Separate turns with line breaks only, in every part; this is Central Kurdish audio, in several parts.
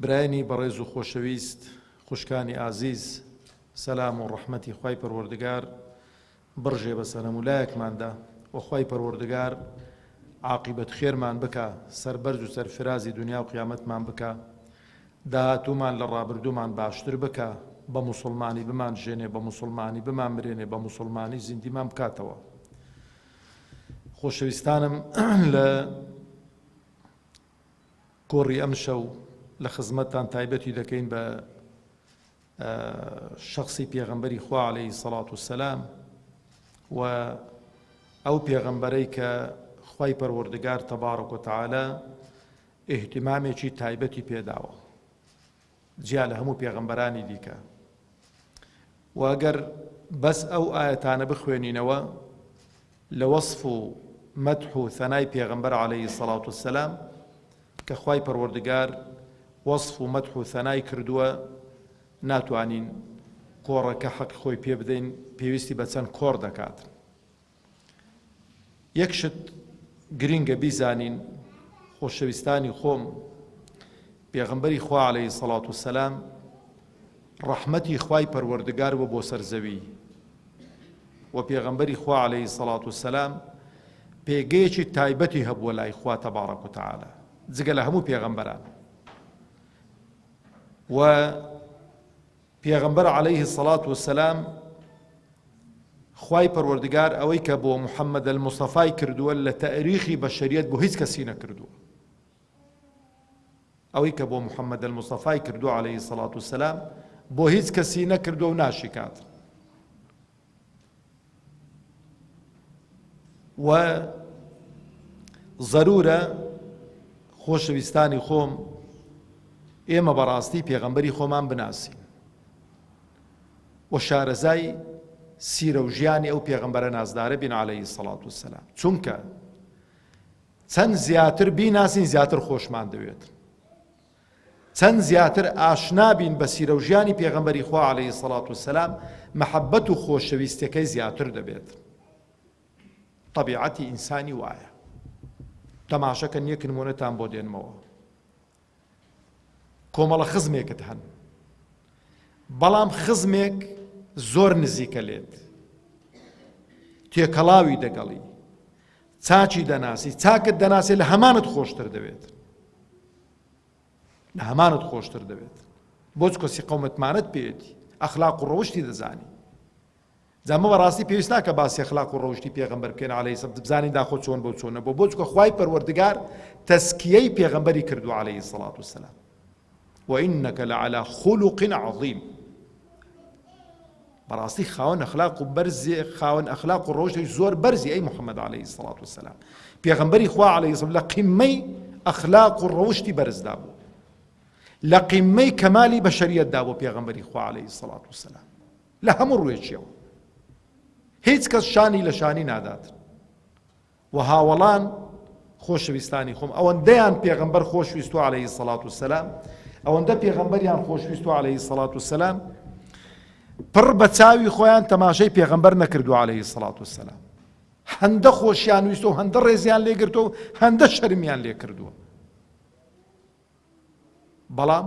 برایانی بەڕێز و خۆشەویست خوشکانی ئازیز سەلام و ڕەحمەتی خوای پەروەردگار بڕژێ بەس هەنەموو لایەکماندا وە خوای پەروەردگار عاقیبەت خێرمان بکا سەربەرز و سەرفرازی دنیا و قیامەتمان بکا داهاتوومان لە ڕابردوومان باشتر بکا بە موسڵمانی بمان ژێنێ بە موسڵمانی بمان مرێنێ بە موسڵمانی زیندیمان بکاتەوە خۆشەویستانم لە گۆڕی ئەمشەو لە خزمەتتان تایبەتی دەکەین بە شخصی پێغەمبەری خوا عليهەی سەڵات و سەسلام و ئەو پێغەمبەرەی کە خی پەروەردگار تەبارە کۆتەعاالە ئهتیمامێکی تایبەتی پێداوە جیا لە هەموو پێغەمبەرانی دیکە و ئەگەر بەس ئەو ئاەتانە بخوێنینەوە لە وەصف و مەدح و ثەنای پێغەمبەر عليهەی سەڵات و سەسلام کە خی پەروەردگار وەصف و مەدح و ثەنای کردووە ناتوانین کۆڕەکە حەق خۆی پێ بدەین پێویستی بە چەند کۆڕ دەکات یەک شت گرینگە بیزانین خۆشەویستانی خۆم پێغمبەری خوا عليه سەڵات و سەلام ڕەحمەتی خوای پەروەردگار بۆ بۆ سەرزەوی و پێغمبەری خوا عليه سەڵات و سەلام پێگەیەکی تایبەتی هەبووە لای خوا تەبارەک و تعاالە جگە لە هەموو پێغمبەران و پێغەمبەر علیە الصلوە والسلام خوای پەروەردگار ئەوەی کە بۆ محمد المصطفی کردووە لە تاریخی بەشەریەت بۆ هیچ کەسی نەکردووە ئەوەی کە بۆ محمد المصطفی کردووە علیه الصلوة والسلام بۆ هیچ کەسی نەکردووە و ناشیکات و ضرورە خۆشەویستانی خۆم ئێمە بەڕاستی پێغەمبەری خۆمان بناسین و شارەزای سیرە و ژیانی ئەو پێغەمبەرە نازدارە بین عليهەی سەڵات و سەسلام چونکە چەند زیاتر بیناسین زیاتر خۆشمان دەوێت چەند زیاتر ئاشنا بین بە سیرەو ژیانی پێغەمبەری خوا علیە سەڵات وسلام مەحەبەت و خۆشەویستەکەی زیاتر دەبێت طبیعەتی ئینسانی وایە تەماشەکە نیەک نمونەتان بۆ دێنمەوە کۆمەڵە خزمێکت هەن بەڵام خزمێک زۆر نزیکە لێت تێکەڵاوی دەگەڵی چاکی دەناسی چاکت دەناسێ لە هەمانت خۆشتر دەوێت لە هەمانت خۆشتر دەوێت بۆچ کەسی قەومەتمانت پێێتی ئەخلاق و ڕەوشتی دەزانی جامە بەڕاستی پێویست ناکە باسی خلاق و ڕەوشی پێغمبەر بکەین عليه سب بزانین داخۆ چۆن بۆ چۆنە بۆ بۆچکە خی پەروەردگار تەسکیەی پێغمبەری کردو عليه سڵات و سلام و انک لعلی خلق عظیم بەڕاستی خاوەن ئەخلاق و بەرزێ خاوەن ئەخلاق و ڕۆژێک زۆر بەرزی ئەی محەممەد عليهەی سڵات و سلام پێغمبەری خوا عليه لە قیممەی ئەخلاق و ڕەوشتی بەرزدا بوو لە قیممەی کەمالی بەشریەتدا بۆ پێغمبەری خوا عليه سڵات و سلام لە هەموو ڕوێکیەوە هیچ کەس شانی لە شانی نادات و هاوەڵان، خۆشەویستانی خۆم، ئەوەندەیان پێغەمبەر خۆشویستوە علیە الصلوة والسلام، ئەوەندە پێغەمبەریان خۆشویستوە علیە الصلوة والسلام، پڕ بە چاوی خۆیان تەماشەی پێغەمبەر نەکردوە علیە الصلوة والسلام، هەندە خۆشیان ویستوە و هەندە ڕێزیان لێگرتوە و هەندە شەرمیان لێکردوە. بەڵام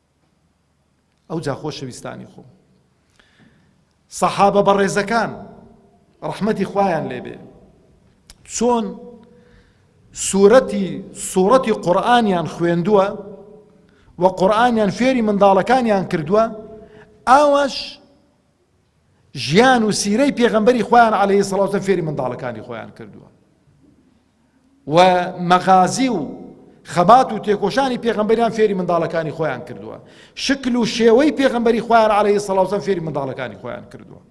ئەوجا خۆشەویستانی خۆم سەحابە بەڕێزەکان ڕەحمەتی خوایان لێبێ چۆن سوورەتی سوورەتی قورآانیان خوێندووە و قورآانیان فێری منداڵەکانیان کردووە ئاواش ژیان و سیرەی پێغەمبەری خۆیان عەلەیهی سڵاو وسەلام فێری منداڵەکانی خۆیان کردووە و مەغازی و خەبات و تێکۆشانی پێغەمبەریان فێری منداڵەکانی خۆیان کردووە شکل و شێوەی پێغەمبەری خۆیان عەلەیهی سڵاو وسەلام فێری منداڵەکانی خۆیان کردووە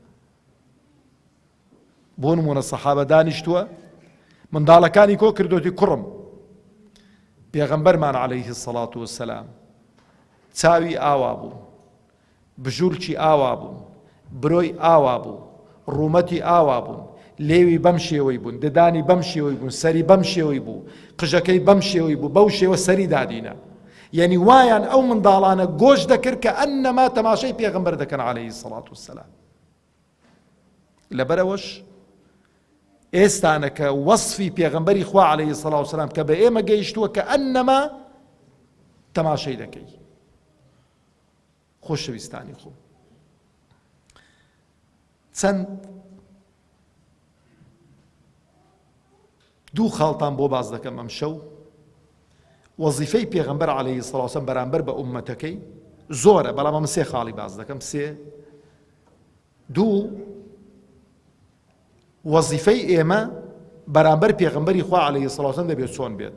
بۆ نمونە سەحابە دانیشتووە منداڵەکانی کۆ کردوتی کوڕم پێغەمبەرمان عەلەیهی سڵات و سەلام چاوی ئاوا بوو بژوورکی ئاوا بوون، برۆی ئاوا بوو، ڕوومەتی ئاوا بوون، لێوی بەم شێوەی بوون، ددانی بەم شێوەی بوون، سەری بەم شێوەی بوو، قژەکەی بەم شێوەی بوو، بەو شێوە سەری دادینە. یەنی وایان ئەو منداڵانە گۆش دەکرد کە ئەننەما تەماشای پێغەمبەر دەکەن عەلەیهی سەڵات و سەلام. لەبەرەوەش ئێستانە کە وەسفی پێغەمبەری خوا عەلەیهی سەڵات و سەلام کە بە ئێمە گەیشتووە کە ئەننەما تەماشای دەکەی. خۆشەویستانی خۆم چەند دوو خاڵتان بۆ باز دەکەم ئەم شەو وەزیفەی پێغمبەر عليهەی سڵاوسم بەرامبەر بە عومەتەکەی زۆرە بەڵام ئەم سێ خاڵی باز دەکەم سێ دوو وەزیفەی ئێمە بەرامبەر پێغمبەری خوا عليهەی سڵاوسم دەبێت چۆن بێت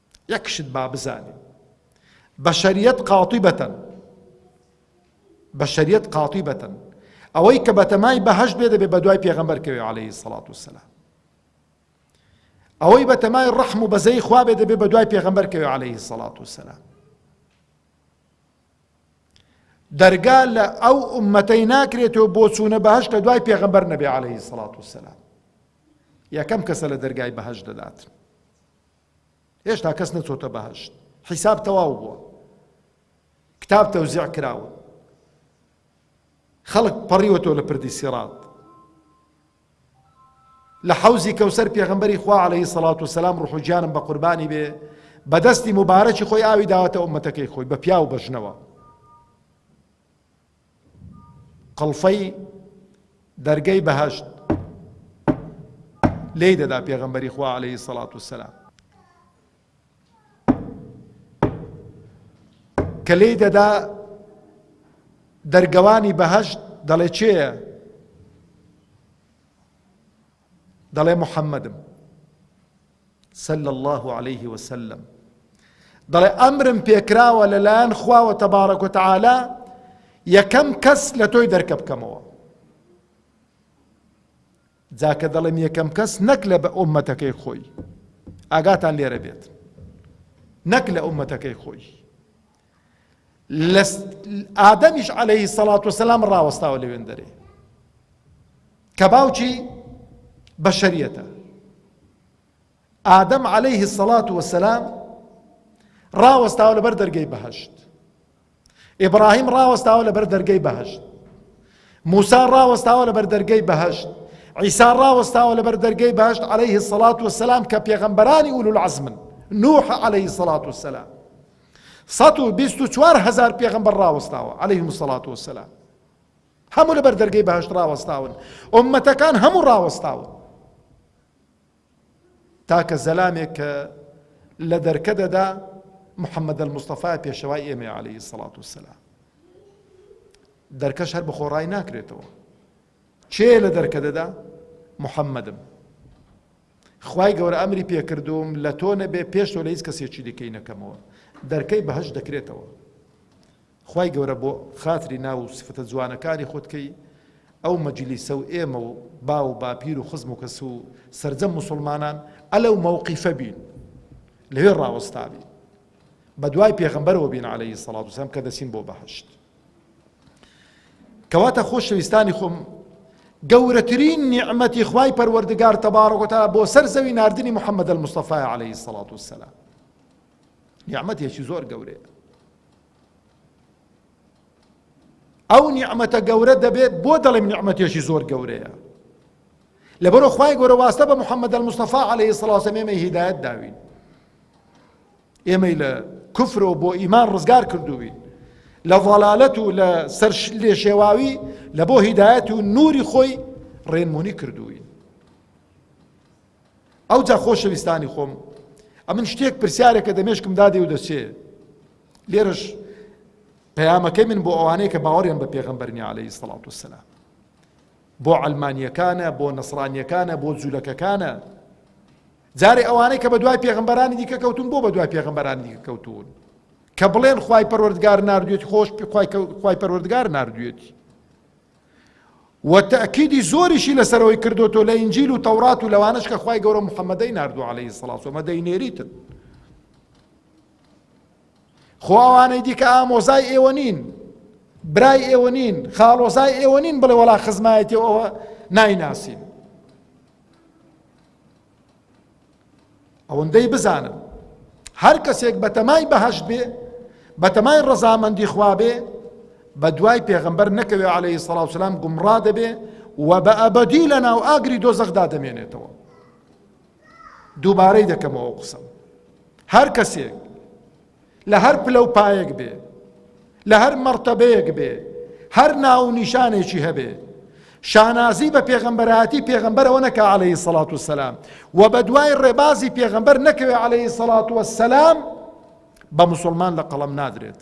یەک شت با بزانین بەشەریەت قاتی بەتەن بەشەریەت قاتی بەتەن ئەوەی کە بەتەمای بەهەش بێ دەبێ بە دوای پێغەمبەر کەوێ عليهەی سەڵات و سەلام ئەوەی بە تەمای ڕەحم و بەزەی خوا بێ دەبێ بە دوای پێغەمبەر کەوێ عليهەی سەڵات و سەلام دەرگا لە ئەو ئومەتەی ناکرێتەوە بۆ چوونە بەهش کە دوای پێغەمبەر نەبێ عليهەی سەڵات و سەلام یەکەم کەسە لە دەرگای بەهش دەداتن هێشتا کەس نەچۆتە بەهەشت حیساب تەواو بووە کتاب تەوزیع کراوە خەڵک پەڕیوەتەوە لە پردی سیڕات لە حەوزی کەوسەر پێغمبەری خوا عليهەی سەڵات و سەسلام ڕحو گیانم بە قوربانی بێ بەدەستی مبارەکی خۆی ئاوی داوەتە ئومەتەکەی خۆی بە پیاو بەژنەوە قڵفەی دەرگەی بەهەشت لێی دەدا پێغەمبەری خوا عەلەیهی سەڵات وسەلام کە لێی دەدا دەرگەوانی بەهەشت دەڵێ چێە دەڵێ محەمەدم، صلی اللە علیه و سلم، دەڵێ ئەمرم پێکراوە لە لایەن خواوە تبارک و تعالی یەکەم کەس لە تۆی دەرکە بکەمەوە جاکە دەڵێم یەکەم کەس نەک لە بە ئۆمەتەکەی خۆی ئاگاتان لێرە بێت نەک لە ئۆمەتەکەی خۆی لە ئادەمیش عەلەیهی سەڵات وسەلام ڕاوەستاوە لەوێن دەرێ کە باوکی بەشەریەتە ئادەم عەلەیهی سەڵات وسەلام ڕاوەستاوە لەبەر دەرگەی بەهشت ئیبراهیم ڕاوەستاوە لەبەر دەرگەی بەهشت موسا ڕاوەستاوە لەبەر دەرگەی بەهشت عیسا ڕاوەستاوە لەبەر دەرگەی بەهشت عەلەیهی سەڵات وسەلام کە پێغەمبەرانی ئولو العزمن نوح عەلەیهی سەڵات وسەلام سەد و بیست و چوار هەزار پێغەمبەر ڕاوەستاوە، علیهم الصلوة والسلام، هەموو لەبەر دەرگەی بەهەشت ڕاوەستاون، ئۆممەتەکان هەموو ڕاوەستاون، تاکە زەلامێک کە لە دەرکە دەدا محمد المصطفی پێشەوای ئێمە علیه الصلاة والسلام دەرکەش هەر بخۆڕای ناکرێتەوە چێ لە دەرکە دەدا محمدم خوای گەورە ئەمری پێکردووم لە تۆ نەبێ پێش تۆ لە هیچ کەسێکی دیکەی نەکەمەوە دەرکەی بەهەشت دەکرێتەوە خوای گەورە بۆ خاتری ناو و سفەتە جوانەکانی خۆت کەی ئەو مەجلیسە و ئێمە و با و باپیر و خزم و کەس و سرجەم مسلمانان ئەلە و مەوقیفە بین لەوێ ڕاوەستابی بە دوای پێغمبەرەوە بین عليهەی سەڵات وسلام کە دەچین بۆ بەهشت کەواتە خۆشەویستانی خۆم گەورەترین نیعمەتی خوای پەروەردگار تەبارەکۆتا بۆ سەر زەوی ناردنی محەممەد المستەفای عليه سەڵات وسلام نیعممەتێکی زۆر گەورەیە ئەو نیعممەتە گەورە دەبێت بۆ دەڵێم نیعممەتێکی زۆر گەورەیە لەبەرو خی گەورە واستە بە محەممەد المستەفا عليه سڵاوسەمێمە هیدایەت داوین ئێمەی لە کفر و بۆ ئیمان ڕزگار کردووی لە ضلالەت و لە سەر لێشێواوی لە بۆ هیدایەت و نوری خۆی ڕێنمونی کردووی ئەو جا خۆشەویستانی خۆم ئەمن شتێک پرسیارێکە دەمێشکم دادێ و دەچێ لێرەش پەیامەکەی من بۆ ئەوانەیە کە باوەڕیان بە پێغەمبەرنی عليهەی سڵات وسلام بۆ ئەلمانیەکانە بۆ نەسرانیەکانە بۆ جوولەکەکانە جارێ ئەوانەی کە بەدوای پێغەمبەرانی دیکە کەوتون بۆ بەدوای پێغەمبەرانی دیکە کەوتون کە بڵێن خوای پەروەردگار ناردوێتی خۆش خوای پەروەردگار ناردوێتی و تەکیدی زۆریشی لەسەرەوەی کردوتۆ لە ئینجیل و تەورات و لەوانش کە خوای گەورە محەممەدەی ناردو عليهەی سڵاسۆمە دەینێریتن خۆوانەی دیکە ئامۆزای ئێوە نین برای ئێوە نین خاڵۆزای ئێوە نین بڵێ وەڵا خزمایەتی ئەوە نایناسین ئەوەندەی بزانم هەر کەسێک بەتەمای بەهشت بێ بەتەمای ڕەزامەندی خوا بێ بە دوای پێغەمبەر نەکەوێ عليهەی سەڵاوسلام گومڕا دەبێ و بە ئەبدی لە ناو ئاگری دۆزەخدا دەمێنێتەوە دووبارەی دەکەمەوە قسم هەر کەسێک لە هەر پلە و پایەک بێ، لە هەر مەڕتەبەیەک بێ، هەر ناو و نیشانێکی هەبێ، شانازی بە پێغەمبەرایەتی پێغەمبەرەوە نەکا عەلەیهی سەڵات و سەلام و بە دوای ڕێبازی پێغەمبەر نەکەوێ عەلەیهی سەڵات و سەلام بە موسڵمان لە قەڵەم نادرێت.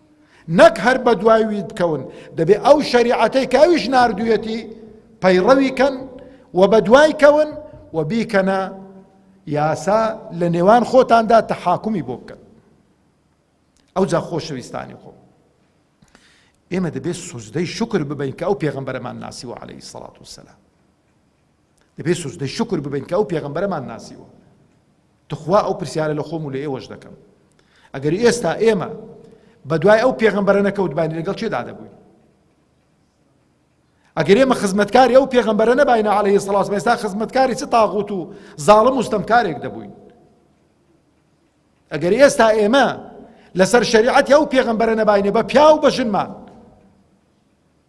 نەک هەر بەدوای وی بکەون، دەبێ ئەو شەریعەتەی کە ئەویش ناردوویەتی پەیڕەوی کەن و بەدوای کەون و بیکەنە یاسا لە نێوان خۆتاندا تەحاکمی بۆ بکەن ئەوجا خۆشەویستانی خۆ ئێمە دەبێت سوزدەی شکر ببین کە ئەو پێغمبەرەمان ناسیوە عليهەی سەڵات و سەلام دەبێت سوجدەی شکر ببەین کە ئەو پێغەمبەرەمان ناسیوە تخوا ئەو پرسیارە لە خۆم و لە ئێوەش دەکەم ئەگەر ئێستا ئێمە بە دوای ئەو پێغەمبەرە نەکەوتبانی لەگەڵ چێدا دەبووین ئەگەر ئێمە خزمەتکاری ئەو پێغەمبەرە نەباینە عليه سڵاس ئێستا خزمەتکاری چ تاغوت و زاڵم و ستەمکارێک دەبووین ئەگەر ئێستا ئێمە لەسەر شریعەتی ئەو پێغەمبەرە نەباینە بە پیاو بە ژنمان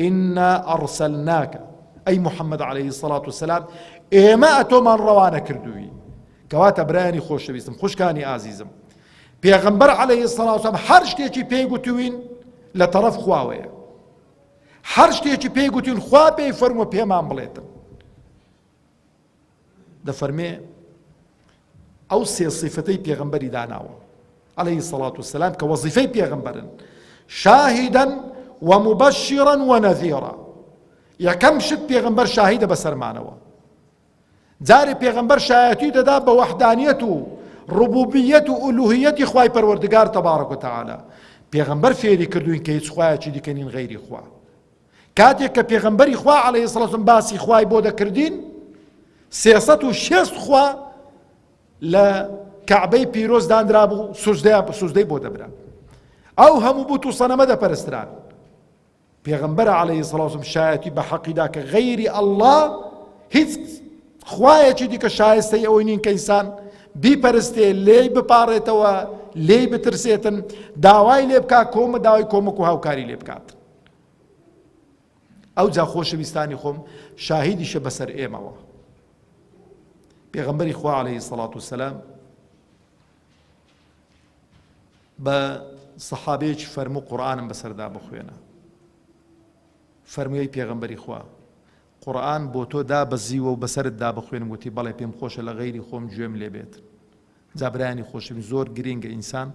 ئینا ئەڕسەلناکە، ئەی محەمەد عەلەیهی سەڵات و سەلام ئێمە ئەتۆمان ڕەوانە کردووی، کەواتە برایانی خۆشەویستم، خوشکانی ئازیزم، پێغەمبەر عەلەیهی سەڵات و سەلام هەر شتێکی پێی گوتووین لە تەڕەف خواوەیە، هەر شتێکی پێی گوتووین خوا پێی فەرمووە پێمان بڵێتن. دەفەرمێ، ئەو سێ سیفەتەی پێغەمبەری داناوە، علیە الصلوة والسلام، کە وەزیفەی پێغەمبەرن، شاهدا و مبشرا و نذیرا، یەکەم شت پێغەمبەر شاهیدە بەسەرمانەوە، جارێ پێغەمبەر شایەتی دەدا بە وەحدانیەت و ڕبوبیەت و ئولوهیەتی خوای پەروەردگار تبارک و تعالی، پێغەمبەر فێری کردووین کە هیچ خوایەکی دیکە نین غەیری خوا. کاتێک کە پێغەمبەری خوا عەلەیهی سڵاو سەلام باسی خوای بۆ دەکردین سێ سەد و شێست خوا لە کەعبەی پیرۆز دانرابوو سوزدەیان سوزدەی بۆ دەبرا ئەو هەموو بوت و سەنەمە دەپەرستران پێغەمبەر عەلەیهی سڵاو سەلام شایەتی بە حەقیدا کە غەیری ئەڵڵا هیچ خوایەکی دیکە شایستەی ئەوەی نین کە ئینسان بیپەرستێ لێی بپاڕێتەوە لێی بترسێتن داوای لێ بکات کۆمە داوای کۆمەک و هاوکاری لێ بکات ئەوجا خۆشەویستانی خۆم شاهیدیشە بەسەر ئێمەوە پێغەمبەری خوا عليه سەڵات و سەسلام بە سەحابەیەکی فەرمو قورآانم بەسەردا بخوێنە فەرمووی پێغەمبەری خوا قورآن بۆ تۆ دا بەزیوە و بەسرت دا بخوێن وتی بەڵێ پێم خۆشە لە غیری خۆم گوێم لێبێت جا برایانی خۆشم زۆر گرینگە ئینسان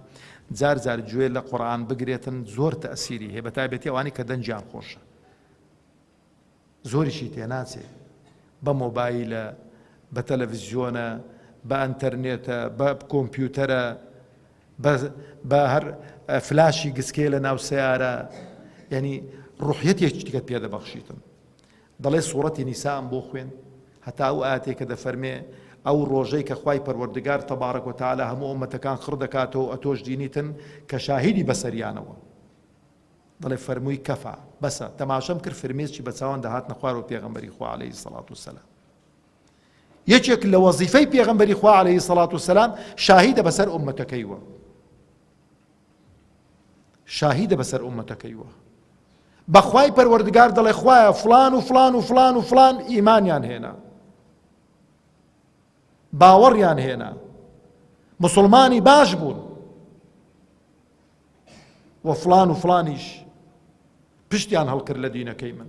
جار جار گوێ لە قورئان بگرێتن زۆر تەسیری هەیە بەتایبەتی ئەوانی کە دەنگیان خۆشە زۆریشی تێناچێ بە مۆبایلە بە تەلەڤزیۆنە بە ئەتەرنێتە بە کۆمپیوتەرە بە هەر فلاشی گسکێ لە ناو سیارە یعنی ڕوحەتێکیتیکە پێدەبەخشیتن دەڵێ سوڕەتی نیسائم بۆ خوێند هەتا ئەو ئایەتەی کە دەفەرمێ، ئەو ڕۆژەی کە خوای پەروەردگار تبارک و تعالی هەموو ئۆمەتەکان خڕ دەکاتەوە و ئەتۆش دینیتن کە شاهیدی بەسەریانەوە. دەڵێ فەرمووی، کەفا، بەسە، تەماشەم کرد فرمێسکی بە چاوان دەهاتنە خوارەوە پێغەمبەری خوا علیە الصلوة والسلام یەکێک لە وەزیفەی پێغەمبەری خوا علیه الصلوة والسلام شاهیدە بەسەر ئۆمەتەکەیوە. شاهیدە بەسەر ئومەتەکەیوە بەخوای پەروەردگار دەڵێ خوایە فلان و فلان و فلان و فلان ئیمانیان هێنا باوەڕیان هێنا مسلمانی باش بوون و فلان و فلانیش پشتیان هەڵکرد لە دینەکەی من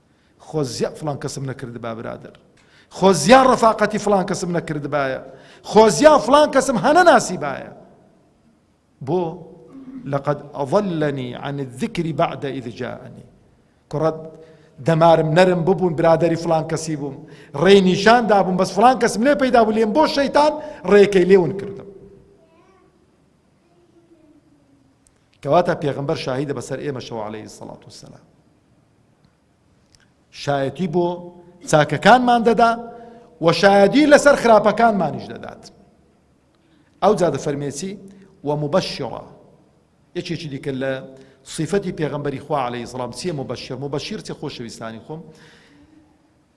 خۆزیا فڵان کەسم نەکردبا برادەر، خۆزیا ڕەفاقەتی فڵان کەسم نەکردبایە، خۆزیا فڵان کەسم هەنەناسیبایە. بۆ؟ لقد اضلنی عن الذکر بعد اذ جاءنی کوڕە دەمارم نەرم ببوون برادەری فلان کەسی بووم ڕێی نیشان دابووم بەس فلان کەسم لێ پەیدا بوو لێم بۆ شەیتان ڕێکەی لێون کردم کەواتە پێغەمبەر شاهیدە بەسەر ئێمەشەوە عەلەیهی الصڵاة والسلام شایەتی بۆ چاکەکانمان دەدا و شایەدی لەسەر خراپەکانمانیش دەدات ئەو جادە فەرمێسی و مبەشڕە یەکێکی دیکە لە صفەتی پێغمبەری خوا عليه سلام چیە مبەشر مبەشیر چە خۆشەویستانی خۆم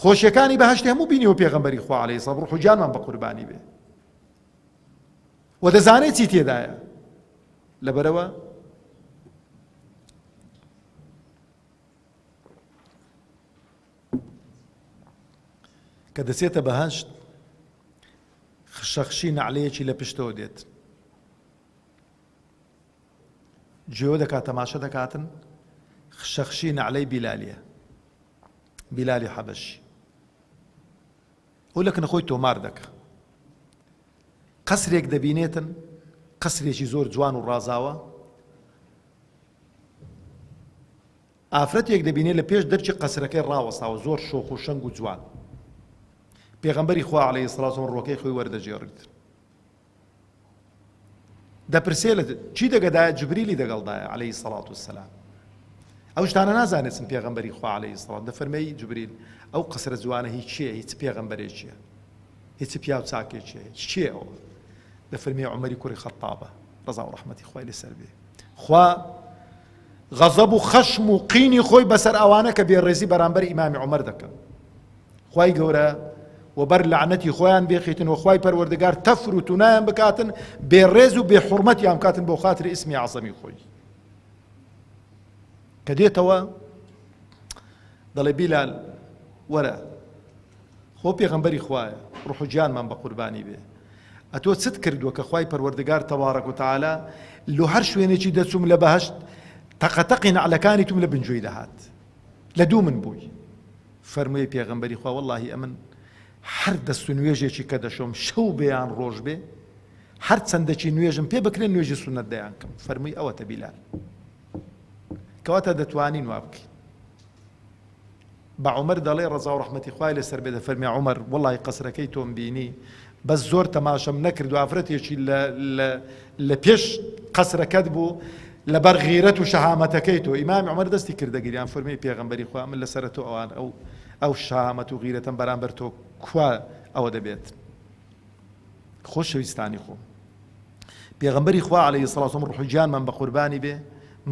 خۆشیەکانی بەهشت هەموو بینی و پێغمبەری خوا عليه سڵ ڕوح و جانمان بە قوربانی بێ و دەزانێت چی تێدایە لەبەرەوە کە دەچێتە بەهشت خشەخشی نعلەیەکی لە پشتەوە دێت گوێ دەکات تەماشە دەکاتن خشەخشی نەعلەی بیلالیە بیلالی حەبەشی ئەو لەکنە خۆی تۆمار دەکە قەسرێک دەبینێتن قەسرێکی زۆر جوان و ڕازاوە ئافرەتێک دەبینێت لە پێش دەرچی قەسرەکەی ڕاوەستاوە زۆر شۆخ و شەنگ و جوان پێغمبەری خوا عليه سلااوم ڕۆکەی خۆی وەردەجێڕیت دەپرسێ لە چی دەگەدایە جبریلی دەگەڵدایە عەلەیهی الصەڵات والسەلام ئەو شتانە نازانێت چن پێغەمبەری خوا عەلەیهی الصەڵات دەفەرمێی جبریل ئەو قەسرە جوانە هی چییە هیچ پێغەمبەرێکیە هیچ پیاو چاکێکیە هیچ چییە ئەوە دەفەرمێ عومەری کوڕی خەتابە ڕەزا و ڕەحمەتی خوای لەسەر بێ خوا غەزەب و خەشم و قینی خۆی بەسەر ئەوانە کە بێڕێزی بەرامبەر ئیمامی عومەر دەکەن خوای گەورە وەبەر لەعنەتی خۆیان بێخیتن و خوای پەروەردگار تەفر و تونایان بکاتن بێ ڕێز و بێ حرمەتیان بکاتن بۆ خاتر ئیسمی عەزەمی خۆی کە دێتەوە دەڵێ بیلال وەرە خۆ پێغەمبەری خوایە ڕوح و گیانمان بە قوربانی بێ ئەتۆ چت کردووە کە خوای پەروەردگار تەواڕەک و تەعالا لۆ هەر شوێنێکی دەچووم لە بەهەشت تەقەتەقی نەعلەکانی توم لە بنجۆی دەهات لە دوو من بووی فەرمووی پێغەمبەری خوا، وەڵڵاهی ئەمن هەر دەست و نوێژێکی کە دەشۆم شەو بێ یان ڕۆژ بێ، هەر چەندەکی نوێژم پێ بکرێ نوێژی سوننەت دەیانکەم. فەرمووی ئەوەتە بیلال. کەواتە دەتوانین وا بکەین. بە عومەر دەڵێ ڕەزا و ڕەحمەتی خوای لەسەر بێ دەفەرمێ عومەر وەڵڵاهی قەسرەکەی تۆم بینی بەس زۆر تەماشەم نەکردو ئافرەتێکی لە لە لە پێش قەسرەکەت بوو لەبەر غیرەت و شەهامەتەکەی تۆ ئیمامی عومەر دەستی کردە گریان فەرمووی پێغەمبەری خوا من لەسەر تۆ ئەوان ئەو ئەو شەهامەت و غیرەتەم بەرامبەر تۆ کوا ئەوە دەبێت خۆشەویستانی خۆم پێغەمبەری خوا عەلەیهی سڵاوسەم ڕوحی گیانمان بە قوربانی بێ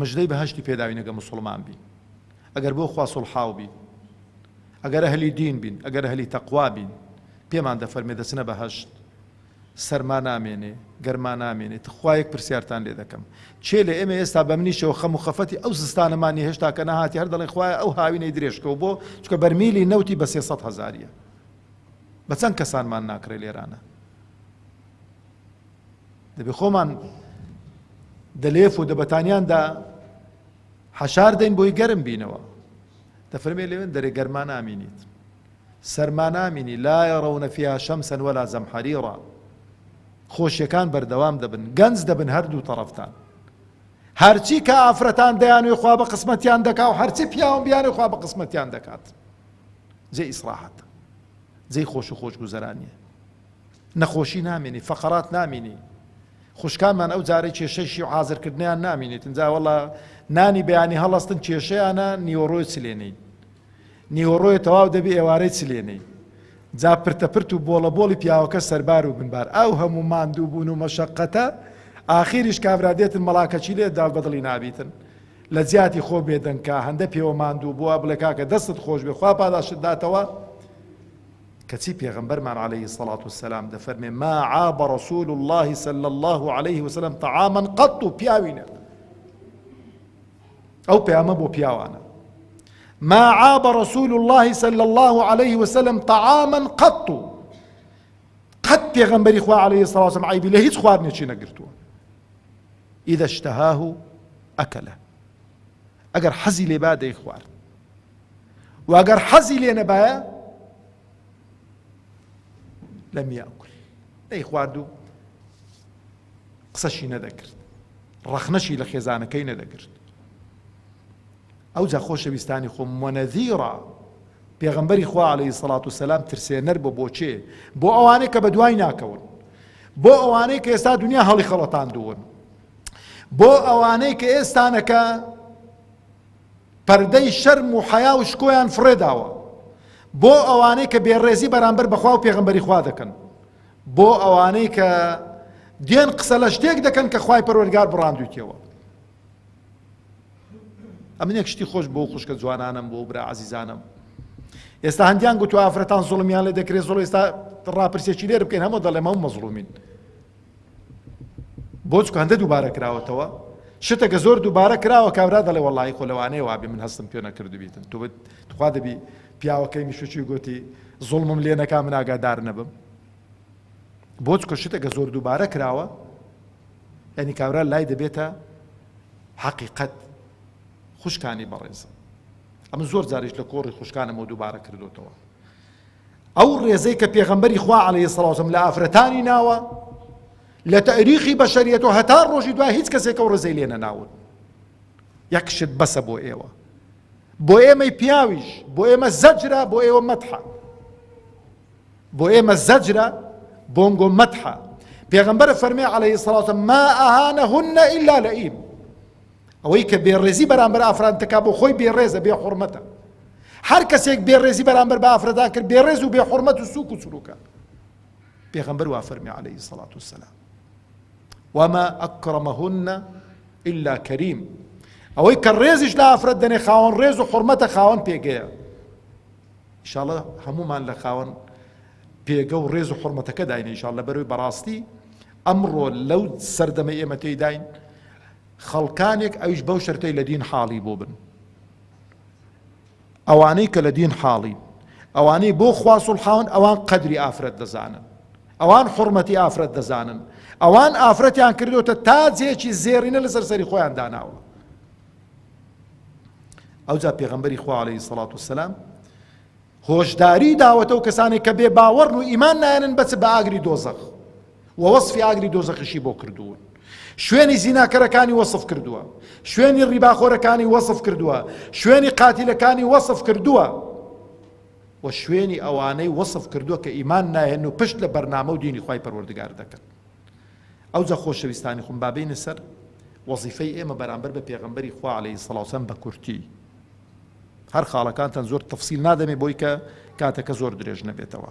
مژدەی بەهەشتی پێداوینەگە موسڵمان بین ئەگەر بۆ خوا سوڵحاو بین، ئەگەر ئەهلی دین بین، ئەگەر ئەهلی تەقوا بین، پێمان دەفەرمێ دەچنە بەهەشت؟ سەرما نامێنێ، گەرما نامێنێ، تخوا یەک پرسیارتان لێ دەکەم، کێ لە ئێمە ئێستا بە منیشەوە خەم و خەفەتی ئەو زستانەمان نیە هێشتا کە نەهاتیە هەر دەڵێین خوایە ئەو هاوینەی درێژکەو بۆ چونکە بەرمیلی نەوتی بە سێ سەد هەزاریە؟ بە چەند کەسانمان ناکڕێ لێرانە؟ دەبێ خۆمان دەلێف و دەبەتانیاندا حەشار دەین بۆی گەرم بینەوە. دەفەرمێ لەوێن دەرێ گەرما نامینیت سەرما نامینی لا یرون فیها شمسا ولا زمحریرا خۆشیەکان بەردەوام دەبن گەنج دەبن هەردوو تەڕەفتان هەرچی کە ئافرەتان دەیانوێ خوا بە قسمەتیان دەکا و هەرچی پیاوم بیانێ خوا بە قسمەتیان دەکات جێ ئیسراحەت جێی خۆش و خۆش گوزەرانیە نەخۆشی نامێنی فەقەرات نامینی خوشکانمان ئەو جارەی کێشەی شی و عازر کردنیان نامینیتن جا وەڵا نانی بەیانی هەڵەستن کێشەیانە نیوەڕۆی چ لێنی نیوەڕۆی تەواو دەبی ئێوارەی چ لێنی جا پرتەپرت و بۆڵە بۆڵی پیاوەکە سەربار و بنبار ئەو هەموو ماندوو بوون و مەشەقەتە ئاخیریش کابرا دێتن مەڵاکەچی لێ داڵ بەدڵی نابیتن لە جیاتی خۆ بێدەنکە هەندە پێوە ماندوو بووە بڵێ کاکە دەستت خۆش بێ خوا پاداشت داتەوە کەچی پێغەمبەرمان علیە الصلوة والسلام دەفەرمێ، ما عاب رسول اللە صلی اللە علیە وسلم طعاما قط پیاوینە، ئەو پەیامە بۆ پیاوانە، ما عاب رسول اللە صلی اللە علیە وسلم طعاما قط قەت پێغەمبەری خوا علیە الصلوة والسلام عیبی لە هیچ خواردنێکی نەگرتووە اذا اشتهاه اکله ئەگەر حەزی لێبا دەیخوارد وەگەر حەزی لێ نەبایە لە میاکل دەی خوارد و قسەشی نەدەکرد ڕەخنەشی لە خێزانەکەی نەدەکرد ئەو جا خۆشەویستانی خۆم وەنەذیڕە پێغمبەری خوا عليهەی سەڵات و سەسلام ترسێنەر بۆ بۆچێ بۆ ئەوانەی کە بە دوای ناکەون بۆ ئەوانەی کە ئێستا دنیا هەڵی خەڵەتان دوون بۆ ئەوانەی کە ئێستانەکە پەردەی شەرم و حەیا و شکۆیان فڕێداوە بۆ ئەوانەی کە بێڕێزی بەرامبەر بەخوا و پێغمبەری خوا دەکەن بۆ ئەوانەی کە دێن قسە لە شتێک دەکەن کە خوای پەروەرگار بڕاندویتەوە ئەمنێک شتی خۆش بۆ خوشکە جوانانم بۆ برا عزیزانم ئێستا هەندیان گوتو ئافرەتان زڵمیان لێ دەکرێت زۆڵ ئێستا ڕاپرسێکی لێر بکەین هەمە دەڵێمە و مەزڵومین بۆ چکاندە دووبارە کراوەتەوە شتەکە زۆر دووبارە کراوە کابرا دەڵێ وەڵی خۆ لەوانەیە وابێ من هەستم پێ نەکردبیتن تو بت تخوا دەبی پیاوەکەی میشوچی گوتی زوڵمم لێ نەکا من ئاگادار نەبم بۆ چکە شتەکە زۆر دووبارە کراوە ئەنی کابرا لای دەبێتە حەقیقەت خوشکانی بەڕێزم ئەمە زۆر جاریش لە کۆڕی خوشکانەمەوە دووبارە کردوتەوە ئەو ڕێزەی کە پێغەمبەری خوا عەلەیهی سڵاو سەم لە ئافرەتانی ناوە لە تەریخی بەشەریەت و هەتا ڕۆژی دوای هیچ کەسێک ئەو ڕێزەی لێ نەناون یەک شت بەسە بۆ ئێوە بۆ ئێمەی پیاویش بۆ ئێمە زەجرا بۆ ئێوە مەتحە بۆ ئێمە زەجرە بۆنگۆ مەتحە پێغمبەر فەرمی عليه سڵاتە ما ئەهانە هونە ئللا لە ئیم ئەوەی کە بێڕێزی بەرامبەر ئافران دەکا بۆ خۆی بێڕێزە بێ حورمەتە هەر کەسێک بێڕێزی بەرامبەر بە ئافرەتان کرد بێڕێز و بێ حورمەت و سوک و سروکە پێغەمبەر وا فەرمی عەلەیهی سەڵات وسەلام وما ئەکرەمەهن إلا کەریم ئەوەی کە ڕێزیش لە ئافرەت دەنێ خاوەن ڕێز و حرمەتە خاوەن پێگەیە ئیشاڵە هەمومان لە خاوەن پێگە و ڕێز و حرمەتەکە داینە ئیشاڵ لە بەروی بەڕاستی ئەمڕۆ لەو سەردەمە ئێمە تێداین خەڵکانێک ئەویش بەو شەرتەی لە دین حاڵی بۆ بن ئەوانەی کە لە دین حاڵی ئەوانەی بۆ خوا سوڵحاون ئەوان قەدری ئافرەت دەزانن ئەوان حڕمەتی ئافرەت دەزانن ئەوان ئافرەتیان کردوتە تاجێکی زێرینە لەسەر سەری خۆیان داناوە ئەوجا پێغەمبەری خوا عليه سڵات و سلام هۆشداری داوەتە و کەسانی کە بێ باوەڕن و ئیمان نایەنن بەچ بە ئاگری دۆزەخ وە وەسفی ئاگری دۆزەخیشی بۆ کردوون. شوێنی زیناکەرەکانی وەسف کردووە. شوێنی ڕیباخۆرەکانی وەسف کردووە. شوێنی قاتیلەکانی وەسف کردووە. وە شوێنی ئەوانەی وەسف کردووە کە ئیمان ناهێن و پشت لە بەرنامە و دینی خوای پەروەردگار دەکەن. ئەوجا خۆشەویستانی خوم با بێینە سەر وەزیفەی ئێمە بەرامبەر بە پێغەمبەری خوا عەلەیهی سڵاو وسەلام بە کورتی. هەر خاڵەکانتان زۆر تەفسیل نادەمێ بۆی کە کاتەکە زۆر درێژ نەبێتەوە.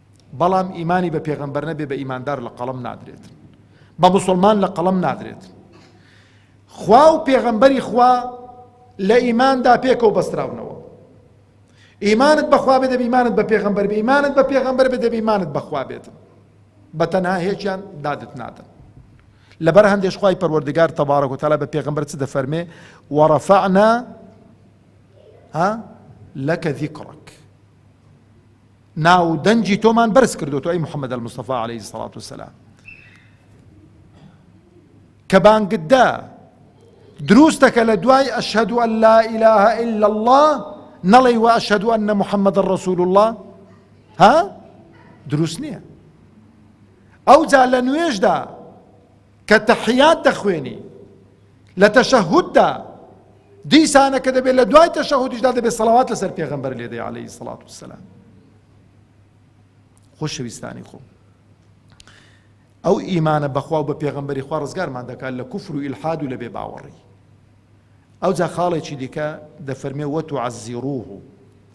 بەڵام ئیمانی بە پێغەمبەر نەبێ بە ئیماندار لە قەڵەم نادرێت بە موسڵمان لە قەڵەم نادرێت خوا و پێغەمبەری خوا لە ئیماندا پێکەوە بەستراونەوە ئیمانت بەخوا بێ دەبیمانت بە پێغەمبەر بێ ئیمانت بە پێغەمبەر بێ دەبیمانت بەخوا بێت بە تەنها هێچیان دادت نادن لەبەر هەندێش خی پەروەردگار تەبارەک و تەلا بە پێغمبەر چ دەفەرمێ وەڕەفعنا ها لەکە ذیکڕک ناو و دەنگی تۆمان بەرز کردوەوە ئەی محەممەد المستەفا عليه سڵات و سلام کە بانگتدا دروستەکە لە دوای ئەشهد و لا إله إلا الله نەڵی وە ئەشهد و أن محەممەد الرسول الله ها دروست نییە ئەو جا لە نوێژدا کە تەحیات دەخوێنی لە تەشەهوددا دیسانە کە دەبێت لە دوای تەشەهودیشدا دەبێت سەڵاوات لەسەر پێغەمبەر لێ دەی عەلەیهی سەڵات وسەلام خۆشەویستانی خۆم ئەو ئیمانە بەخوا و بە پێغەمبەری خوا ڕزگارمان دەکات لە کوفر و ئیلحاد و لە بێ باوەڕی ئەو جا خاڵێکی دیکە دەفەرمێ وەت و عەزیڕوه و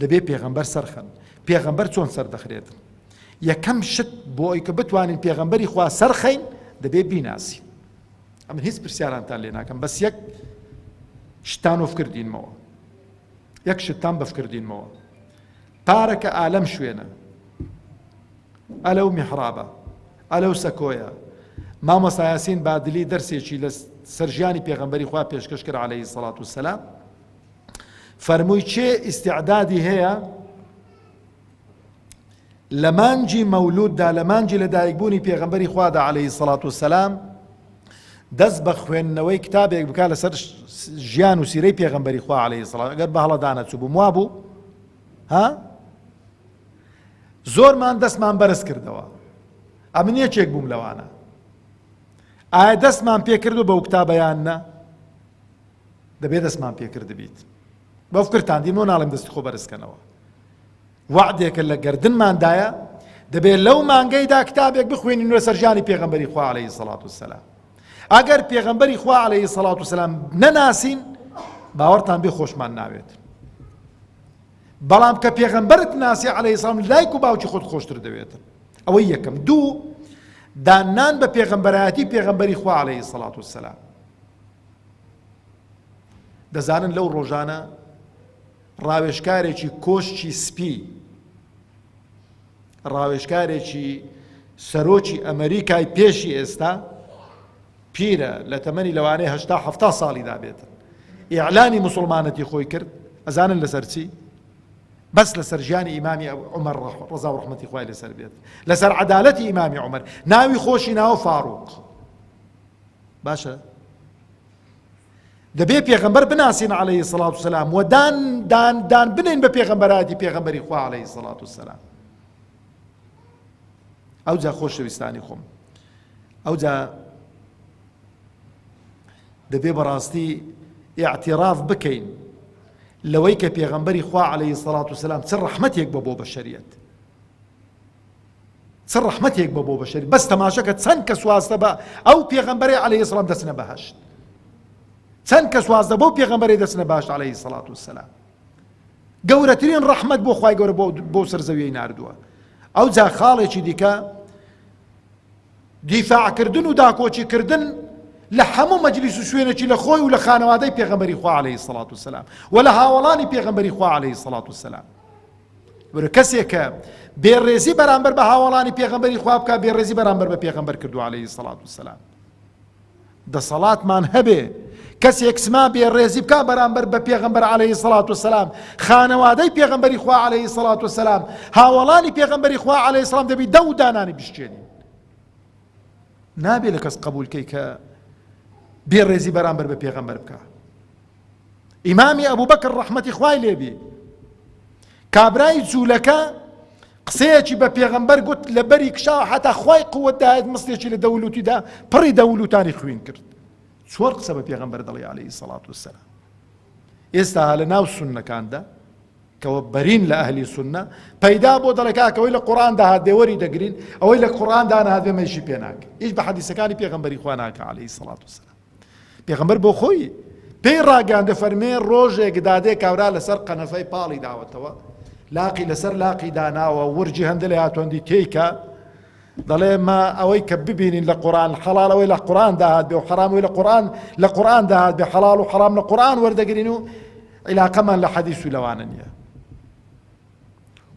دەبێ پێغەمبەر سەرخەن پێغەمبەر چۆن سەردەخرێت یەکەم شت بۆ ئەوی کە بتوانین پێغەمبەری خوا سەرخەین دەبێ بیناسی ئەمە هیچ پرسیارانتان لێ ناکەم بەس یەک شتان و فکردینمەوە یەک شتان بەفکردینمەوە پارەکە ئالەم شوێنە ئەلە و میحرابە ئەلە و سەکۆیە مامۆسایاسین بادلی دەرسێکی لە سەرژیانی پێغمبەری خوا پێشکەش کرد عليهەی سەڵات و سەلا فەرمووی کێ ئیستیعدادی هەیە لە مانجی مەولوددا لە مانجی لەدایکبوونی پێغەمبەری خوادا عەلەیهی سەڵات وسەلام دەست بە خوێندنەوەی کتابێک بکە لەسەر ژیان و سیرەی پێغەمبەری خوا عەلەیهی سەڵات ئەگەر بە هەڵەدانە چوو بووم وا بوو ها زۆرمان دەستمان بەرز کردەوە ئەمن یەکێک بووم لەوانە ئایا دەستمان پێکردو بەو کتابیان نە دەبێ دەستمان پێ کردبیت بەو کرتان دین و ناڵێم دەستی خۆ بەرز کەنەوە وەعدێکە لە گردنمان دایە دەبێ لەو مانگەیدا کتابێک بخوێنین لەسەر ژیانی پێغەمبەری خوا عەلەیهی سەڵات وسەلام ئەگەر پێغەمبەری خوا عەلەیهی سەڵات وسەلام نەناسین باوەڕتان بێ خۆشمان ناوێت بەڵام کە پێغەمبەرت ناسی عەلەیهی سەڵام لایک و باوکی خۆت خۆشتر دەوێتن ئەوە یەکەم دوو داننان بە پێغەمبەرایەتی پێغەمبەری خوا عەلەیهی سەڵات وسەلام دەزانن لەو ڕۆژانە ڕاوێژکارێکی کۆشکی سپی ڕاوێژکارێکی سەرۆکی ئەمریکای پێشی ئێستا پیرە لە تەمەنی لەوانەیە هەشتا هەفتا ساڵی دابێتن ئیعلانی مسلمانەتی خۆی کرد ئەزانن لەسەر چی بەس لەسەر ژیانی ئیمامی عمر ڕزا و ڕحمەتی خوای لەسەر بێت لەسەر عدالەتی ئیمامی عمر ناوی خۆشی ناوە فاروق باشە دەبێ پێغەمبەر بناسین عەلەیهی سەڵات و سەلام و دان دان دان بنین بە پێغەمبەراتی پێغەمبەری خوا عەلەیهی سەڵات و سەلام ئەو جا خۆشەویستانی خۆم ئەو جا دەبێ بەڕاستی اعتراف بکەین لەوەی کە پێغەمبەری خوا عليه سەڵات و سلام چ ڕحمەتێک بە بۆ بەشریت چ ڕەحمەتێک بە بۆ بەشەر بەس تەماشەکە چەند کەس واستە بە ئەو پێغەمبەرێ عەلەیهی سڵام دەچنە بەهەشت چەند کەس واستە بەو پێغەمبەرێ دەچنە بەهەشت عەلەیهی سەڵات وسەلام گەورەترین ڕەحمەت بۆ خوای گەورە بۆ سەر زەویەی ناردووە ئەو جا خاڵێکی دیکە دیفاعکردن و داکۆچی کردن لە هەموو مەجلیس و شوێنێکی لە خۆی و لە خانەوادەی پێغەمبەری خوا عەلەیهی سەڵات وسەلام و لە هاوەڵانی پێغەمبەری خوا عەلەیهی سەڵات وسەلام ورە کەسێک کە بێ ڕێزی بەرامبەر بە هاوەڵانی پێغەمبەری خوا بکە بێ ڕێزی بەرامبەر بە پێغەمبەر کردو عليه سەڵات و سلام دەسەڵاتمان هەبێ کەسێک سما بێ ڕێزی بکە بەرامبەر بە پێغەمبەر عليه سەڵات و سلام خانەوادەی پێغەمبەری خوا عليه سەڵات و سلام هاوەڵانی پێغەمبەری خوا عليه سلام دەبی دە و دانانی بشتێنین نابێ لە کەس قبولکەی کە بێ ڕێزی بەرامبەر بە پێغەمبەر بکە ئیمامی ئەبوبەکر ڕەحمەتی خوای لێبی کابرای جوولەکە قسەیەکی بە پێغەمبەر گوت لە بەری کشاو حتا خوای قوت داێت مستێکی لە دەولوتیدا پڕی دەولوتانی خوین کرد چۆر قسە بە پێغەمبەر دەڵی عليهەی سەڵات وسلام ئێستا لە ناو سنەکاندا کەەوە بەرین لە ئەهلی سنە پەیدا بۆ دەڵکاکەەوەی لە قڕان داهات دێوەری دەگرین ئەوەی لە قڕان دانهاتێ مەشی پێناک هیچ بە حەدیسەکانی پێغمبەری خواناکە عليهەی سەڵات وسلام پێغەمبەر بۆ خۆی پێی ڕاگەیاند دەفەرمێ ڕۆژێک دادێ کابرا لەسەر قەنەفەی پاڵی داوەتەوە لاقی لەسەر لاقی داناوە ورجی هەندە لە هاتوەندی تێیکە دەڵێ ما ئەوەی کە ببینین لە قورآن حەڵال ئەوەی لە قورآن داهات بێ و حەرامەوەی لە قورآن لە قورآن داهات بێ حەڵال و حەرام لە قورآن وەردەگرین و عیلاقەمان لە حەدیث و لەوانە نییە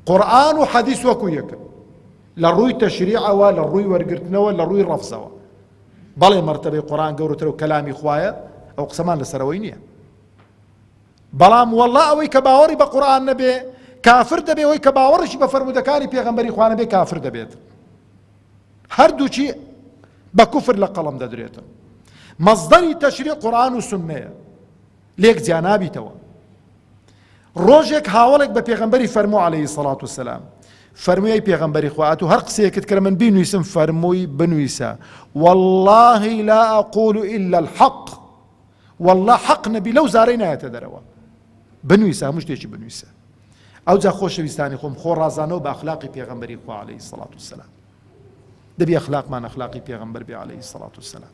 قورئان و حەدیس وەکو یەکن لە ڕووی تەشریعەوە لە ڕووی وەرگرتنەوە لە ڕووی ڕەفزەوە بەڵێ مەرتەبەی قورئان گەورەتر و کەلامی خوایە ئەو قسەمان لەسەرەوەی نییە بەڵام وەڵا ئەوەی کە باوەڕی بە قورآن نەبێ کافر دەبێ ئەوەی کە باوەڕشی بە فەرمودەکانی پێغەمبەری خوانە بێ کافر دەبێت هەردووچی بە کوفر لە قەڵم دەدرێتن مەزدەری تەشری قورآن و سنەیە لێک جیا نابیتەوە ڕۆژێک هاوڵێک بە پێغمبەری فەرمو عليهەی سەڵات و سلام فەرمووی پێغمبەری خوات و هەر قسەیەکت کرە من بینویسم فەرمووی بنویسە واللهی لا ئەقول إلا الحق والله حەق نەبی لەو زارەی نایەتە دەرەوە بنویسە هەموو شتێکی بنویسە ئەو جا خۆشەویستانی خۆم خۆ ڕازانەوە بە ئەخلاقی پێغمبەری خوا عليهەی سەڵات و سلام دەبی ئەخلاقمان ئەخلاقی پێغمبەر بێ عليهەی سەڵات و سلام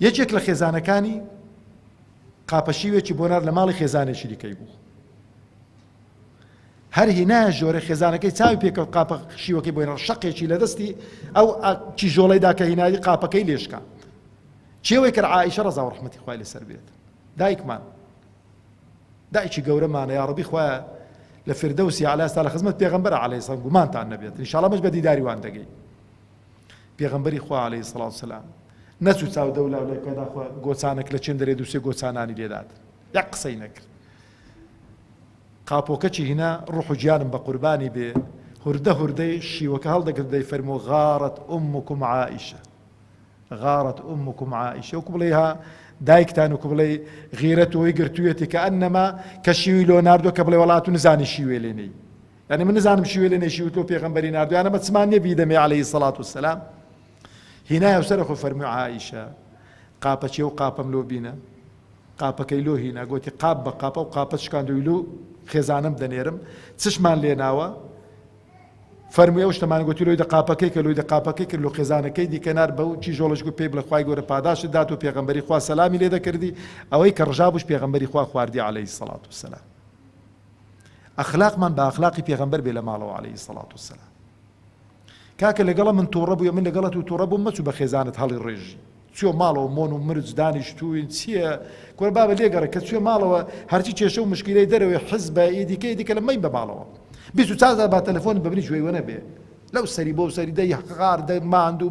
یەکێک لە خێزانەکانی قاپەشیوێکی بۆ نارد لە ماڵی خێزانێکی دیکەی بوو هەر هینایە ژۆرە خێزانەکەی چاوی پێکەوت قاپە شیوەکەی بۆی نڕ شەقێکی لە دەستی ئەو چی ژۆڵەیدا کە هینایی قاپەکەی لێشکا چێوەی کرد عیشە ڕزا و ڕحمەتی خوای لەسەر بێت دایکمان دایکی گەورەمانە یاڕبی خوای لە فردەوسی علاستا لە خزمەت پێغمبەر عليه سلام گومانتان نەبێت انشاءڵە مەش بە دیداری وان دەگەی پێغەمبەری خوا علیە سڵاو وسلام نەچوو چاو دەو لاو لای پێدا خۆ گۆچانەک لە چێن دەرێ دووسێ گۆچانانی لێدات یەک قسەی نەکرد قاپۆکەچی هینا ڕوح و گیانم بە قوربانی بێ هوردە هوردەی شیوەکە هەڵدەگرت دەی فەرمۆ غارت ئومکم عائیشە غارت ئومکم عائیشە وکو بڵێ ها دایکتان وکو بڵێ غیرەت وی گرتوویەتی کە ئەنەما کە شیوی لۆناردۆ کە بڵێ وڵات و نزانی شیوێ لێنەی یانی من نزانم شیوێ لێ نەیشیوت لۆ پێغەمبەری ناردویانە بە چما نیە بیدەمێ عەلەیهی سەڵات وسەلام هینایە سەرە خۆ فەرموو عائیشە قاپەچێ و قاپەم لۆ بینە قاپەکەی لۆ هینا گوتی قاپ بە قاپە و قاپە شکاندوی لۆ خێزانم دەنێرم چشمان لێ ناوە فەرمووی ئەو شتەمان گوتی لۆی دە قاپەکەی کە لۆی دە قاپەکەی کرد لۆ خێزانەکەی دیکەنار بە و چی ژۆڵش گوت پێی بڵە خخوای گەورە پاداشت دات و پێغمبەری خوا سەلامی لێ دەکردی ئەوەی کە ڕژابوش پێغمبەری خوا خواردی عليهەی سەڵات و سەلام ئەخلاقمان بە ئەخلاقی پێغەمبەر بێ لە ماڵەوە عەلەیهی الصڵاة والسلام کاکە لەگەڵە من توڕە بوویە من لەگەڵە تو توڕە بووم مەچوو بە خێزانت هەڵی ڕێژی چوە ماڵەوە مۆن و مرج دانیشتووین چییە کورە بابە لێگەڕێ کە چوێ ماڵەوە هەرچی کێشە و مشکیلەی دەرەوەی حزبە ئیدیکە ئیدیکە لە مەی بە ماڵەوە بیست و چازار با تەلەفۆن ببنی جوێی وە نەبێ لەو سەری بۆ سەری دەی حقار دەی ماندوو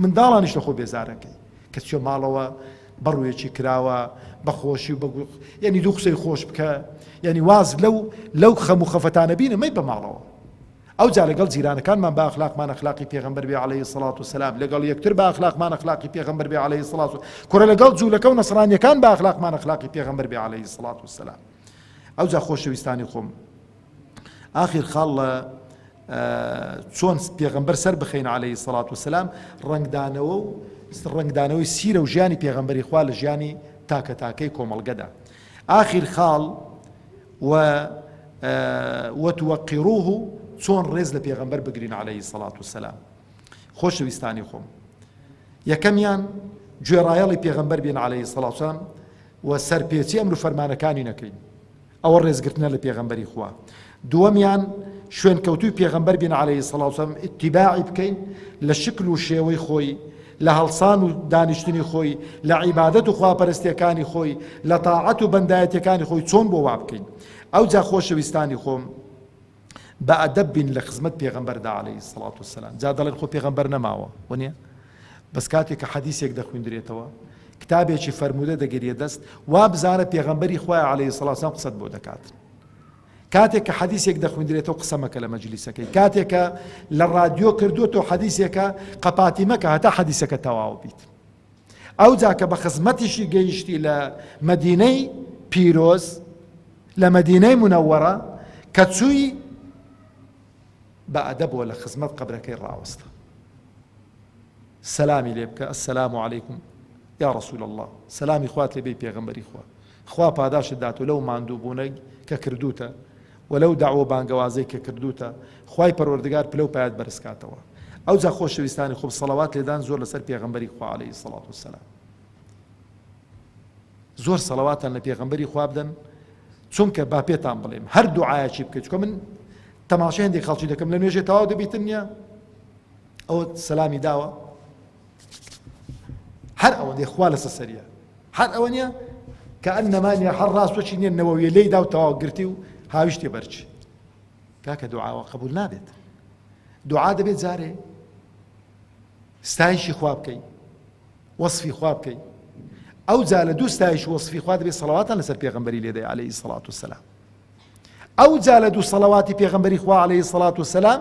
منداڵانیش لە خۆ بێزارەکەی کە چوە ماڵەوە بەڕوویەکی کراوە بەخۆشی و بەگو یەنی دوو قسەی خۆش بکە یەنی واز لەو لەو خەم و خەفەتانە بینە مەی بەماڵەوە ئەوجا لەگەڵ جیرانەکانمان بە ئەخلاقمان ئەخلاقی پێغەمبەر بێ عەلەیهی سڵات و سەلام لەگەڵ یەکتر بە ئەخلاقمان ئەخلاقی پێغەمبەر بێ عەلەیهی سڵات و کورە لەگەڵ جوولەکە و نەسرانیەکان بە ئەخلاقمان ئەخلاقی پێغەمبەر بێ عەلەیهی سڵات و سەلام ئەوجا خۆشەویستانی خۆم ئاخیر خاڵ لە چۆن پێغەمبەر سەر بخەین عەلەیهی سەڵات وسلام ڕەنگدانەوە و ڕەنگدانەوەی سیرە و ژیانی پێغەمبەری خوا لە ژیانی تاکە تاکەی کۆمەڵگەدا ئاخیر خاڵ و وتوەقیڕوه و چۆن ڕێز لە پێغەمبەر بگرین عليهەی سەڵات و سەسلام خۆشەویستانی خۆم یەکەمیان گوێڕایەڵی پێغەمبەر بین عليهەی سەڵاتان و سەرپێچی ئەمر فەرمانەکانی نەکەین ئەوە ڕێزگرتنە لە پێغەمبەری خوا دووەمیان شوێنکەوتووی پێغەمبەر بین عەلەیهی الصڵاة والسلام ئیتیباعی بکەین لە شکل و شێوەی خۆی لە هەڵسان و دانیشتنی خۆی لە عیبادەت و خواپەرستیەکانی خۆی لە تاعەت و بەندایەتیەکانی خۆی چۆن بۆ وابکەین ئەوجا خۆشەویستانی خۆم بە ئەدەب بین لە خزمەت پێغەمبەردا علیە الصلوة والسلام جا دەڵێن خۆ پێغەمبەر نەماوە وەنیە بەس کاتێک کە حەدیسێک دەخویندرێتەوە کتابێکی فەرموودە دەگەریە دەست وا بزانە پێغەمبەری خوای علیه الصلوة والسلام قسەت بۆ دەکات کاتێک کە حەدیسێک دەخویندرێتەوە قسەمەکە لە مەجلیسەکەی کاتێکە لە ڕادیۆ کردووە تۆ حەدیسێکە قەپاتی مەکە هەتا حەدیسەکە تەواو بیت ئەوجا کە بە خزمەتیشی گەیشتی لە مەدینەی پیرۆز لە مەدینەی منەوەڕە کە چووی بە ئەدەبەوە لە خزمەت قبرەکەی ڕاوەستە سەلامی لێ بکە ئەسەلام و عیکم یا ڕسول الله سەلامی خوات لێ بی پێغمبەری خوا خوا پاداشتت داتو لەو ماندوو بونەی کە کردوتە و لەو داوە و بانگەوازەی کە کردوتە خوای پەروەردگار پلەو پایەت بەرز کاتەوە ئەوجا خۆشەویستانی خوب سەڵەوات لێدان زۆر لەسەر پێغەمبەری خوا علیە الصلوة والسلام زۆر سەڵەواتان لە پێغەمبەری خوا بدەن چونکە با پێتان بڵێم هەر دوعایەکی بکەیت چکە من تەماشە هەندێک خەڵکی دەکەم لە نوێژێ تەواو دەبیتن نیە ئەوە سەلامی داوە هەر ئەوەندەی خوا لەسە سەریە هەر ئەوە نیە کە ئەن نەمانە هەر ڕاستۆکی نیە نەوەویە لی دا و تەواو گرتی و هاویشتێ بەرچ کاکە دوعاوە قبول نابێت دوعا دەبێت جارێ ستایشی خوا بکەیت وەصفی خوا بکەیت ئەو جا لە دوو ستایش وەصفی خوا دەبێت سەڵاتان لەسەر پێغمبەری لێدەی عليهەی سەڵات و سەسلام ئەو جا لە دوو سەڵاتی پێغمبەری خوا عليهەی سەڵات و سەسلام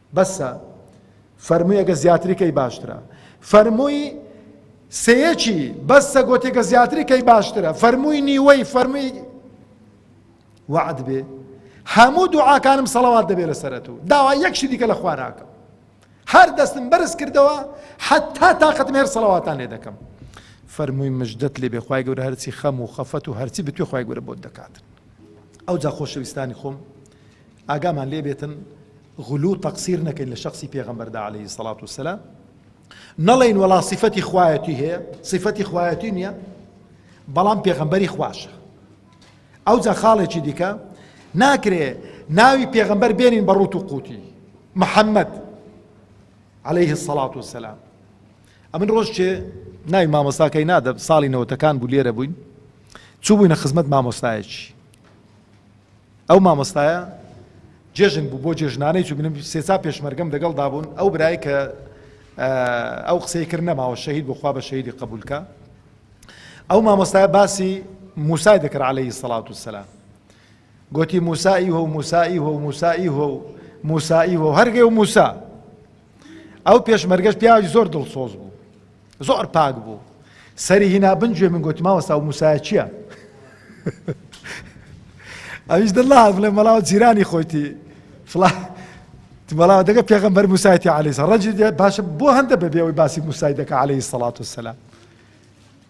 بەسە فەرمووی گە زیاتری کەی باشترە فەرمووی سەیەکی بەسە گۆتی گە زیاتری کەی باشترە فەرمووی نیوەی فەرمووی وعد بێ هەموو دوعاکانم سەڵەوات دەبێت لە سەرەت و داوا یەکشی دیکە لە خواناکەم هەر دەستم بەرز کردەوە حتا تااقەتم هێر سەڵەواتان لێ دەکەم فەرمووی مژدەت لێ بێخوای گەورە هەرچی خەم و خەفەت و هەرچی بتوێ خخوای گەورە بۆت دەکات ئەو جا خۆشەویستانی خۆم ئاگامان لێ بێتن غلو و تەقسیر نەکەین لە شەخسی پێغەمبەردا علیە سەڵات و سەلام نەڵێین وەڵا سیفەتی خوایەتی هەیە سیفەتی خوایەتی نییە بەڵام پێغەمبەری خواشە ئەو جا خاڵێکی دیکە ناکرێ ناوی پێغەمبەر بێنین بە ڕوت و قوتی محەممەد عليه الصلاة والسلام ئەمن ڕۆژ چێ ناوی مامۆستاکەی نادە ساڵی نەوەتەکان بوو لێرە بووین چوو بووینە خزمەت مامۆستایەکی ئەو مامۆستایە جێژن بوو بۆ جێژنانەی چوو بنم سێسا پێشمەرگەم دەگەڵ دابوون ئەو برای کە ئەو قسەی کرد نەماوە شەهید بخوا بە شەیدی قبولکە ئەو مامۆستای باسی موسای دەکرد عليهەی سەڵات و سەسلام گوتی موسایی هۆ موسایی هۆ موسایی هۆ موسایی هۆ هەرگەی و موسا ئەو پێشمەرگەش پیاوی زۆر دڵسۆز بوو زۆر پاک بوو سەری هینا بن گوێ من گوتی ماوەستا و موسایە چییە؟ ئەویش دڵا بڵێ مەڵاو جیرانی خۆیتی فڵا بەڵاو دەگە پێغمبەر موسایتی علیسا ڕەنجی باشە بۆ هەندە بەبێەوەی باسی موسای دەکە عليهەی سەڵات و سەلا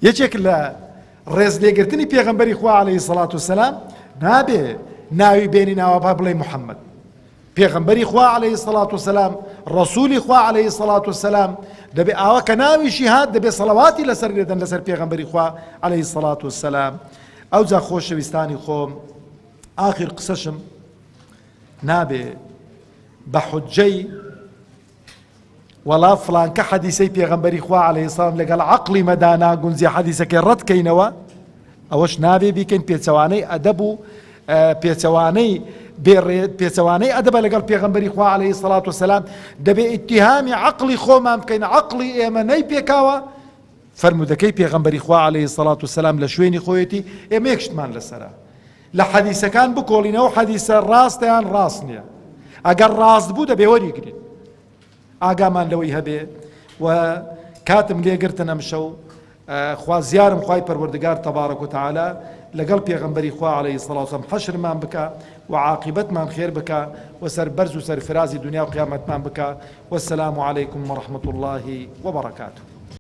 یەکێک لە ڕێز لێگرتنی پێغەمبەری خوا عەلەیهی سەڵات و سەلام نابێ ناوی بێنی ناوابا بڵێ محەممەد پێغەمبەری خوا عەلەیهی سەڵات و سەلام ڕسوولی خوا عەلەیهی سەڵات و سەلام دەبێ ئاوا کە ناویشی هات دەبێ سەڵەواتی لەسەر لێدەن لەسەر پێغەمبەری خوا عەلەیهی سەڵات و سەلام ئەو جا خۆشەویستانی خۆم ئاخر قسەشم نابێ بە حجەی وەڵا فڵانکە حەدیسەی پێغەمبەری خوا عەلەیهی سڵام لەگەڵ عەقڵی مەدا ناگونجێ حەدیسەکەی ڕەت کەینەوە ئەوەش نابێ بیکەین پێچەوانەی ئەدەب و پێچەوانەی پێچەوانەی ئەدەبە لەگەڵ پێغمبەری خوا عليهەی سەڵات و سەسلام دەبێ ئیتیهامی عقلی خۆمان بکەین عقلی ئێمە نەی پێکاوە فرمودەکەی پێغمبەری خوا عليهەی سەڵات و سەسلام لە شوێنی خۆیەتی ئێمە یەکشتمان لەسرە لە حەدیسەکان بکۆڵین ئەو حەدیسە ڕاستە یان ڕاست نییە ئەگەر ڕاست بوو دەبێ وەریگرین ئاگامان لەوەی هەبێ و کاتم لێگرتن ئەم شەو خوازیارم خی پەروەردگار تەبارە کۆتەعالا لەگەڵ پێغمبەری خوا عليه سڵاوسم حەشرمان بکە و عاقبەتمان خێر بکە و سەر بەرز و سەرفرازی دنیا و قیامەتمان بکە وەسلام و عیکم و رححمت اللهی وبڕکات.